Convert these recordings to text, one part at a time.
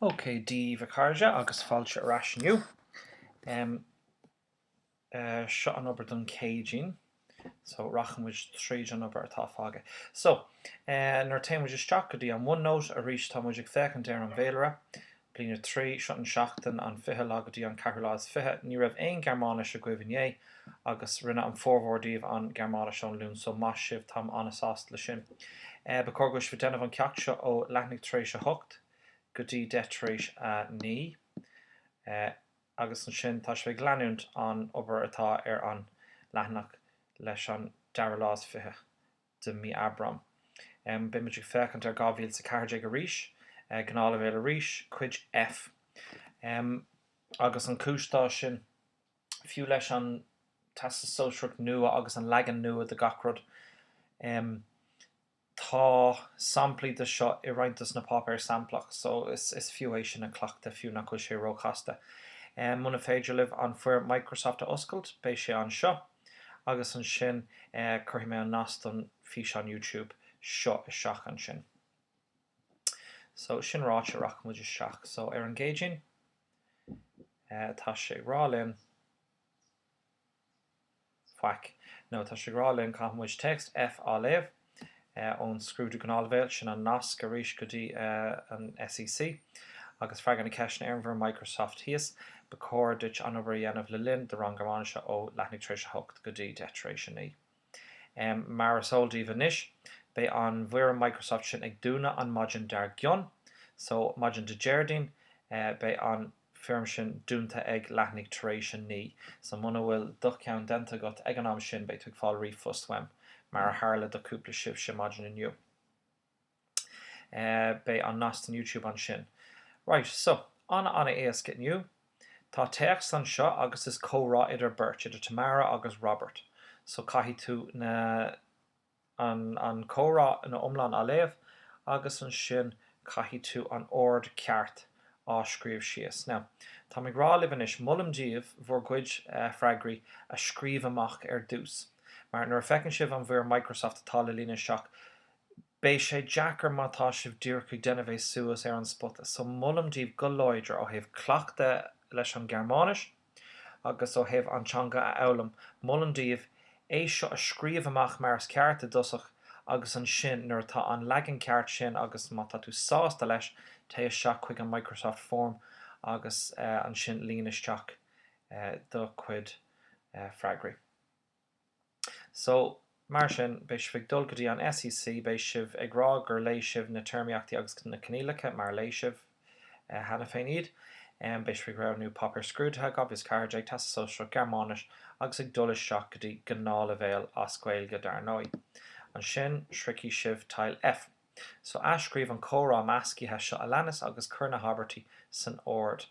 Ok, Dia daoibh a chairde agus fáilte ar ais inniu. Em. eh, seo an obair don Céadaoin. So, rachaidh muid tríd an obair atá fágtha. So, eh, nuair a téann muid isteach go dtí an OneNote arís tá muid ag féachaint ar an bhféilire. Bliain a 3, Seo an seachtain an fiche lá go dtí an ceathrú lá is fiche. Ní raibh aon Gearmáinis agaibh inné, agus rinne an formhór díbh an Gearmáinis ón Luan, so maith sibh, táim an-sásta le sin. Ba chóir go bhfuil sibh ag déanamh an ceacht seo ó leathuair tar éis a hocht go dtí deich tar éis a naoi, agus ansin tá sibh ag leanúint an obair atá ar an leathanach leis an dara lá is fiche de mí Aibreáin. Beimid ag féachaint ar 2014 arís, gnáthleibhéal arís, Cuid F, agus an cúis dó sin, fiú leis an Teastas Sóisearach nua agus an leagan nua de gach rud, tá samplaí de seo i roinnt de na páipéar samplach, so is fiú é sin a chleachtadh fiú nach bhfuil sé ró-chasta. Muna féidir libh an foirm Microsoft a oscailt, beidh sé anseo. agus ansin cuirfidh mé an nasc don físeán YouTube seo isteach ansin. So, sin ráite rachaidh muid isteach. So, ar an gCéadaoin, tá sé ag rá linn, faic, no, tá sé ag rá linn caithfidh muid text F a léamh, ón scrúdú gnáthleibhéal, sin an nasc arís go dtí an SEC, agus freagair na ceisteanna ar an bhfoirm Microsoft thíos. Ba chóir duit an obair a dhéanamh le linn do rang Gearmáinise ó leathuair tar éis a 8 go dtí 10 tar éis a 9. Mar is eol daoibh anois, beidh an bhfoirm Microsoft sin ag dúnadh an maidin dar gcionn, so, maidin Dé Déardaoin, beidh an. foirm sin dúnta ag leathuair tar éis a naoi. So muna bhfuil do cheann déanta agat ag an am sin beidh tú ag fáil ríomhphost uaim, mar a tharla do cúpla sibhse maidin inniu. Beidh an nasc don YouTube ansin. Right, so, ana ana éasca inniu. Tá téacs anseo agus is comhrá idir beirt, idir Tamara agus Robert. So caithfidh tú na. an comhrá ina iomlán a léamh agus ansin caithfidh tú an ord ceart a scríobh síos. Now, táim ag rá libh anois, molaim daoibh bhur gcuid freagraí a scríobh amach ar dtús, mar nuair a feiceann sibh an bhfoirm Microsoft atá le líonadh isteach, beidh sé deacair má tá sibh díreach ag déanamh é suas ar an spota. So, molaim daoibh go láidir ó thaobh cleachtadh leis an Ghearmáinis, agus ó thaobh an teanga a fhoghlaim. Molaim daoibh é seo a scríobh amach mar is ceart i dtosach agus ansin nuair atá an leagan ceart sin agus má tá tú sásta leis téigh isteach chuig an Microsoft Form agus ansin líon isteach do chuid freagraí. So, mar sin, beidh sibh ag dul go dtí an SEC, beidh sibh ag rá gur léigh sibh na téarmaíochtaí agus na coinníollacha mar a léigh sibh cheana féin iad. Beidh sibh ag roghnú páipéar scrúdaithe, dhá mhíle is a ceathair déag, Teastas Sóisearach, Gearmáinis, agus ag dul isteach go dtí gnáthleibhéal as Gaeilge, dar ndóigh. Ansin, sroichfidh sibh Teil F. So, athscríobh an comhrá meascaithe seo a leanas agus cuir na habairtí san ord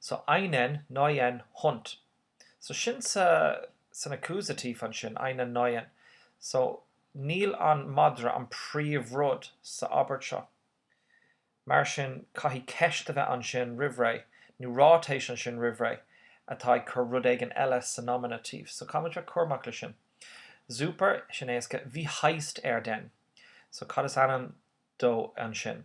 so einen neuen Hund, so sin sa san accusative ansin, einen neuen, so níl an madra an príomhrud sa abairt seo. Mar sin caithfidh ceist a bheith ansin roimh ré, nó ráitéis ansin roimh ré, atá ag cur rud éigin eile sa nominative, so caithfimid a bheith cúramach leis sin. Super, sin éasca, wie heißt er denn, so cad is ainm dó ansin?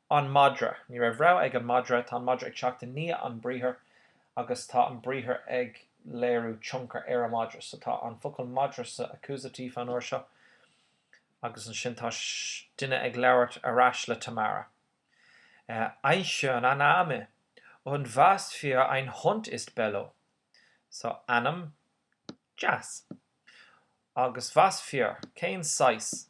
An madra. Ní raibh rogha ag an madra. Tá an madra ag teacht i ndiaidh an briathar agus tá an briathar ag léiriú tionchar ar an madra. So tá an focal madra sa accusative an uair seo. Agus ansin tá duine ag labhairt ar ais le Tamara. Ein schöner Name und was für ein Hund ist Bello? So ainm deas. Agus was für, cén saghas?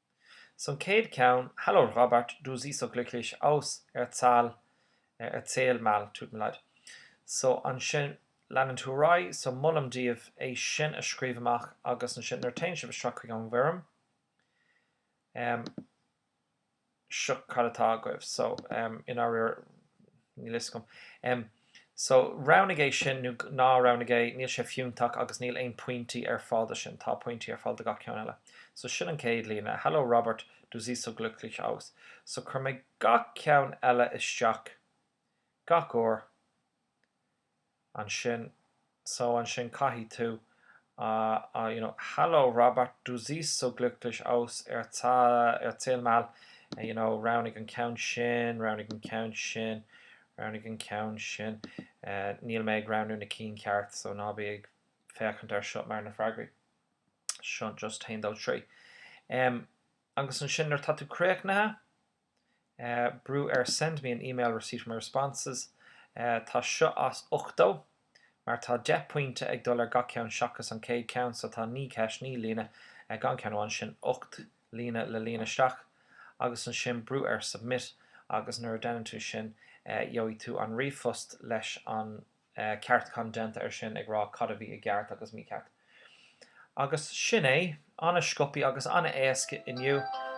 So an chéad ceann, hallo Robert, du siehst so glücklich aus, erzähl, erzähl mal, tut mir leid. So ansin leanann tú ar aghaidh, so molaim daoibh é sin a scríobh amach agus ansin nuair a téann sibh isteach chuig an bhfoirm, em, seo cad atá agaibh. So, em, in ár, níl fhios agam. Em. So, roghnaigh é sin, ná roghnaigh é, níl sé fiúntach agus níl aon pointí ar fáil do sin, tá pointí ar fáil do gach ceann eile. So, sin an céad líne. Hallo Robert, du siehst so glücklich aus. So, chuir mé gach ceann eile isteach gach uair ansin. so ansin caithfidh tú a you know Hallo Robert, du siehst so glücklich aus erzähl mal you know roghnaigh an ceann sin, roghnaigh an ceann sin, roghnaigh an ceann sin eh níl mé ag roghnú na cinn ceart so ná bí ag féachaint air seo mar na freagraí so just haon dó trí em agus ansin nuair atá tú críochnaithe brú ar Send me an email receipt for my responses Tá seo as ochtó mar tá deich pointe ag dul ar gach ceann seachas an céad ceann so tá naoi ceist naoi líne gan ceann amháin sin ocht líne le líon isteach agus ansin brú ar Submit agus nuair a deineann tú sin gheobhaidh tú an ríomhphost leis an ceartúchán déanta ar sin ag rá cad a bhí i gceart agus mícheart. Agus sin é. Ana-sciobthaí agus ana-éasca inniu.